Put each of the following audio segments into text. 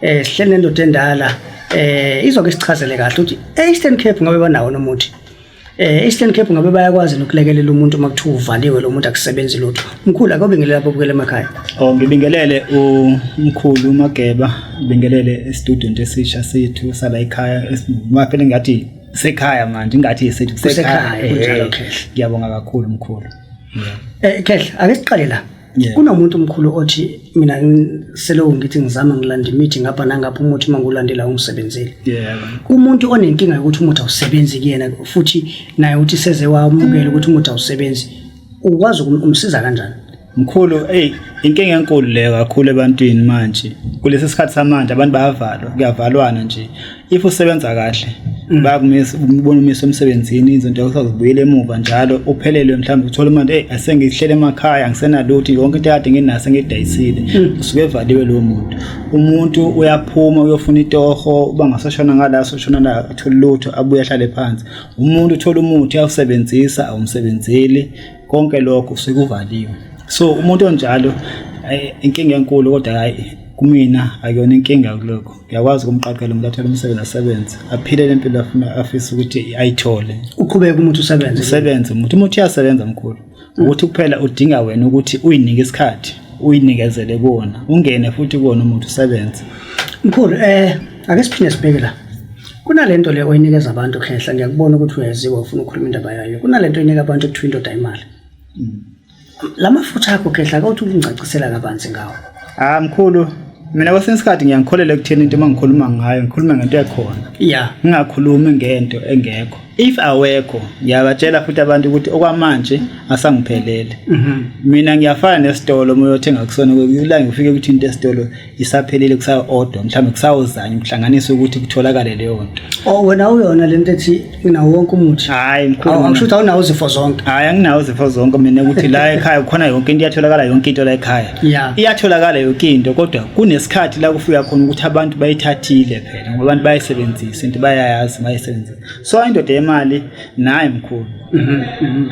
eh sihleli nendoda endala eh izoke sichazele kahle ukuthi e-Eastern Cape ngabe banawo nomuthi eh Eastern Cape ngabe bayakwazi nokulekelela umuntu uma kuthiwa uvaliwe lo muntu akusebenzi lutho mkhulu akobingelela lapho bukele emakhaya oh ngibingelele umkhulu umageba ngibingelele student esisha sethu sala ekhaya esimaphele ngathi sekhaya manje ngathi isethu sekhaya eh, ngiyabonga kakhulu mkhulu eh khehla ake siqale la yeah. kunomuntu omkhulu othi mina seloku ngithi ngizama ngilanda imithi ngapha nangapha umuthi uma ngiwulandela ungisebenzile yeah. umuntu onenkinga yokuthi umuthi awusebenzi kuyena futhi naye uthi seze wamukele ukuthi umuthi awusebenzi ukwazi ukumsiza kanjani mkhulu hey inkinga enkulu le kakhulu ebantwini manje kulesi sikhathi samanje abantu bayavalwa kuyavalwana nje if usebenza kahle mm. bakumisa ubona umisa emsebenzini izinto usazibuyela emuva njalo uphelelwe mhlawumbe uthola imali hey asengihlele emakhaya ngisenalutho yonke into yakade nginaso ngidayisile mm. usuke evaliwe lo muntu umuntu uyaphuma uyofuna itoho uba ngasashona ngala soshona la athola lutho abuye ahlale phansi umuntu uthola umuthi awusebenzisa awumsebenzeli konke lokho sekuvaliwe so umuntu onjalo inkinga enkulu kodwa hayi kumina akuyona inkinga kulokho uyakwazi ukumqaqela umuntu athole umsebenzi asebenze aphile le mpilo afuna afise ukuthi ayithole uqhubeke umuntu usebenze usebenze umuntu umuntu uyasebenza mkhulu ukuthi kuphela udinga wena ukuthi uyinike isikhathi uyinikezele kuwona ungene futhi kuwona umuntu usebenze mkhulu eh ake siphinde sibheke la kunalento le oyinikeza abantu khehla ngiyakubona ukuthi uyaziwa ufuna ukukhuluma indaba yayo kunalento oyinika abantu ekuthiwa indoda imali mm. La mafutha akho khehla akawuthi ukungicacisela kabanzi ngawo. Ah mkhulu, mina kwesinye isikhathi ngiyangikholela ekutheni into mangikhuluma ngayo ngikhuluma ngento ekhona. Yeah. Ngingakhulumi ngento engekho. If awekho, ngiyabatshela futhi abantu ukuthi okwamanje asangiphelele. Mhm. Mina ngiyafana nesitolo uma uyothenga kusona kulanga ufike ukuthi into esitolo isaphelile kusayo-odwa mhlawumbe kusawozanye kuhlanganisa ukuthi kutholakale leyo nto o oh, wena uyona le nto ethi unawo wonke umuthi hhayi mkhuluakusho ukuthi awunawo izifo zonke hhayi anginawo izifo zonke mina ukuthi la ekhaya kukhona yonke into iyatholakala yonke into la ekhaya ya iyatholakala yonke into kodwa kunesikhathi la kufika khona ukuthi abantu bayithathile phela ngoba abantu bayayisebenzisa into bayayazi bayayisebenzisa so indoda yemali naye mkhulu mhm, mhm.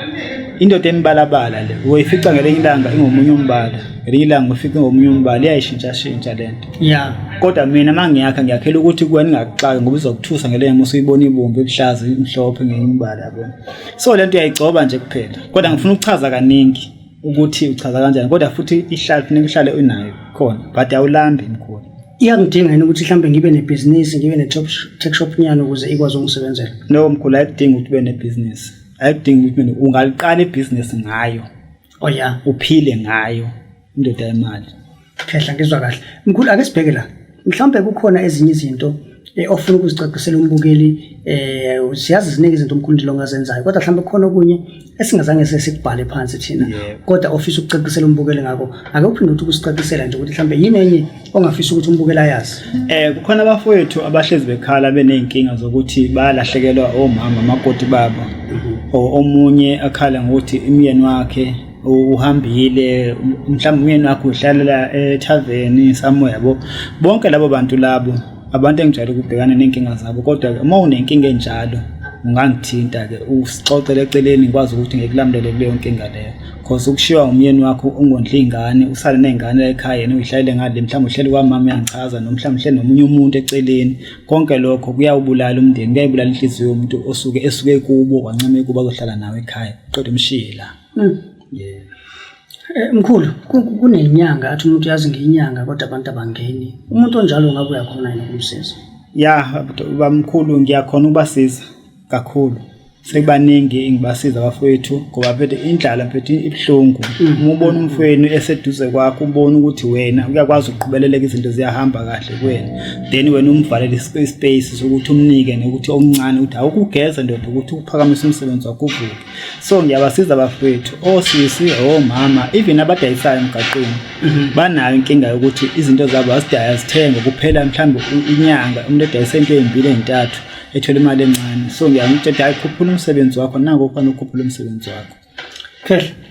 indoda emibalabala le uyoyifica ngelinye ilanga ingomunye umbala ngelinye ilanga ufica ingomunye umbala iyayishintshashintsha le nto ya kodwa mina uma ngiyakha ngiyakhela ukuthi kuwe ningakuxaki ngoba uzokuthusa ngelenye uma usuyibona ibomvu ebuhlaza imhlophe ngenye umbala yabona so le nto uyayigcoba nje kuphela kodwa ngifuna ukuchaza kaningi ukuthi uchaza kanjani kodwa futhi ihlale kufuneka uhlale unayo khona but awulambi mkhulu iyangidinga yini ukuthi mhlawumbe ngibe nebhizinisi ngibe ne-tech shop nyana ukuze ikwazi ukungisebenzela no mkhulu ayikudingi ukuthi ube nebhizinisi ayikudingi ukuthi ungaliqala ibhizinisi ngayo oh ya uphile ngayo indoda yemali Khehla ngizwa kahle. Mkhulu ake sibheke la. Mhlawumbe kukhona ezinye izinto eh, ofuna ukuzicacisela umbukeli eh siyazi ziningi izinto umkhulu ndilo ngazenzayo kodwa mhlawumbe kukhona okunye esingazange sesikubhale phansi thina Yebo. kodwa ofisa ukucacisela umbukeli ngako ake uphinde ukuthi ukusicacisela nje ukuthi mhlawumbe yini enye ongafisa ukuthi umbukeli ayazi Eh kukhona abafowethu abahlezi bekhala beneyinkinga zokuthi bayalahlekelwa omama makoti babo. O- Omunye akhala ngokuthi imyeni wakhe uhambile mhlawumbe umyeni wakho uhlalela ethaveni somewhere yabo bonke labo bantu labo abantu engijwayele ukubhekana ney'nkinga zabo kodwa-ke uma unenkinga enjalo ungangithinta-ke usixoxele eceleni ngikwazi ukuthi ngikulamulele kuleyo nkinga leyo cause ukushiwa umyeni wakho ungondla iy'ngane usale ney'ngane la ekhaya yena uyihlalele ngale mhlawumbe uhleli kwamama uyangichaza noma mhlawumbe uhleli nomunye umuntu eceleni konke lokho kuyawubulala umndeni kuyayibulala inhliziyo yomuntu osuke esuke kubo kwancama ekubo azohlala nawe ekhaya qeda umshiye la Mm. Yeah. Eh, mkhulu kunenyanga athi umuntu yazi ngenyanga kodwa abantu abangeni umuntu onjalo ngabe uyakhona yini ukumsiza ya bamkhulu ngiyakhona ukubasiza kakhulu sebaningi ngibasiza abafowethu ngoba phethe indlala phethe ibuhlungu mm. uma ubona umfweni eseduze kwakho ubona ukuthi wena uyakwazi ukuqhubeleleka izinto ziyahamba kahle kuwena then wena umvalele ispace sokuthi umnike nokuthi omncane ukuthi awukugeza ndoda ukuthi ukuphakamisa umsebenzi wakho uvuke so ngiyabasiza abafowethu osisi oh, omama oh, even abadayisayo emgaqweni mhm. banayo inkinga yokuthi izinto zabo azidaya zithenge kuphela mhlawumbe inyanga umuntu edayisa into ezimbili ezintathu ethole imali encane so ngiyamtshela hayi khuphula umsebenzi wakho nako kufanele ukhuphule umsebenzi wakho khehla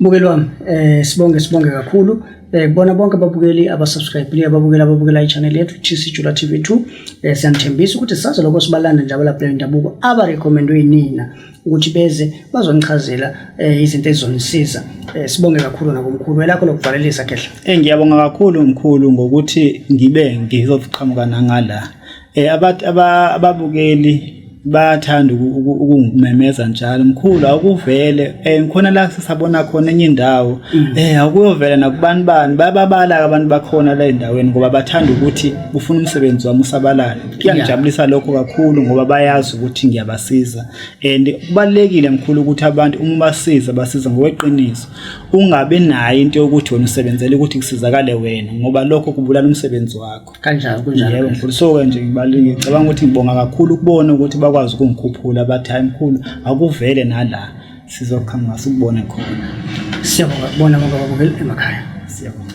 Mukeli wami eh sibonge sibonge kakhulu eh kubona bonke ababukeli abasubscribe ababukeli ababukela i-channel yethu TC Jula TV2 eh siyanithembisa ukuthi saze lokho sibalanda njalo lapha indabuko aba recommendwe yinina ukuthi beze bazonichazela eh izinto ezizonisiza eh sibonge kakhulu nakumkhulu elakho lokuvalelisa kehla eh ngiyabonga kakhulu mkhulu ngokuthi ngibe ngizoqhamuka nangala Eh abathi ababukeli bayathanda ukungimemeza njalo mkhulu awukuvele eh ngikhona la sisabona khona enye indawo mm. eh awukuyovela nakubantu bani bayababala abantu bakhona la endaweni ngoba bathanda ukuthi ufuna umsebenzi wami usabalale kuyangijabulisa lokho kakhulu ngoba bayazi ukuthi ngiyabasiza and kubalekile mkhulu ukuthi abantu uma basiza basiza ngokweqiniso ungabe nayo into yokuthi wena usebenzele ukuthi kusizakale wena ngoba lokho kubulala umsebenzi wakho kanjalo kunjalo yebo mkhulu so ke nje ngibaluleke ngicabanga ukuthi ngibonga kakhulu ukubona ukuthi bakwazi ukungikhuphula abathi hayi mkhulu akuvele nala sizoqhamuka sikubone khona siyabonga kubona ngoba babukela emakhaya siyabonga